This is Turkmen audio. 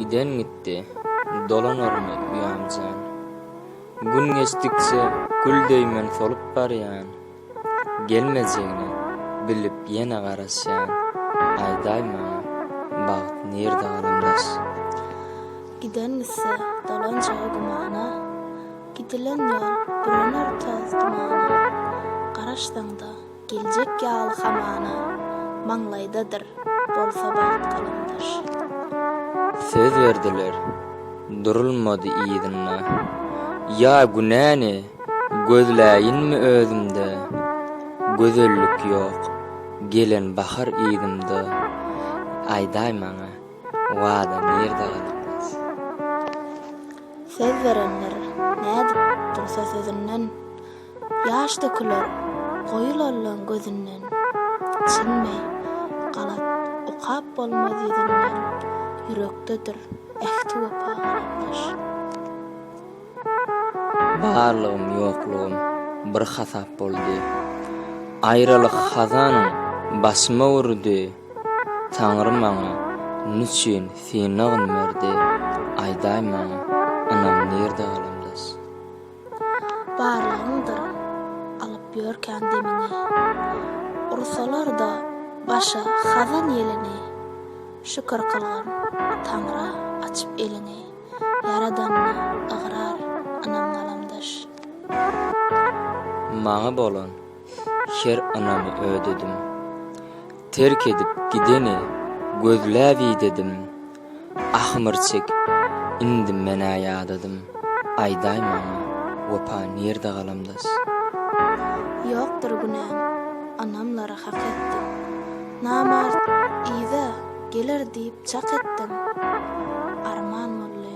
Giden gitdi, dolanarmy uýam jan? Gün geçdikçe gül döýmen solup barýan, Gelmejegini bilip ýene garaşýan, Aýdaý maňa, bagt nirde galamdaş? Giden gitse, dolanjagy gümana, Gidilen ýol bürüner toz-dumana, Garaşsaň-da, Geljek ýaly hamana, maňlaýdadyr, bolsa bagt galamdaş. Söz berdiler, durulmady yzynda. Ýa günäni gözläýinmi özümde? Gözellik ýok, gelen bahar yzymda. Aýdaý maňa, wada nirde galykmaz? Söz berenler nädip dursa sözünden. Ýaş döküler goýy lollaň gözünden, Çyn meý, galat, okap bolmaz ýüzünden, Ýürekdedir ähti-wepa galamdaş. Barlygym, ýoklugym bir hasap boldy, Aýralyk hazanyň başyma urdy, Taňry maňa niçün synagyn berdi, Aýdaý maňa, ynam nirde galamdaş. Barlygyňdyr alyp ýörkän demiňi. Ursalar-da başa hazan ýelini. Şükür kylgyn Taňra açyp elini. Ýaradanyna ygrar, ynam galamdaş. Maňa bolan Her ynamy ödedim. Terk edip gideni gözläp idedim. Ahmyr çekip indim men-ä ýadadym. Aýdaý maňa, wepa nirde galamdas? Ýokdur günäm, anamlara hak etdim. Namart yza geler diýip çak etdim. Arman boldy.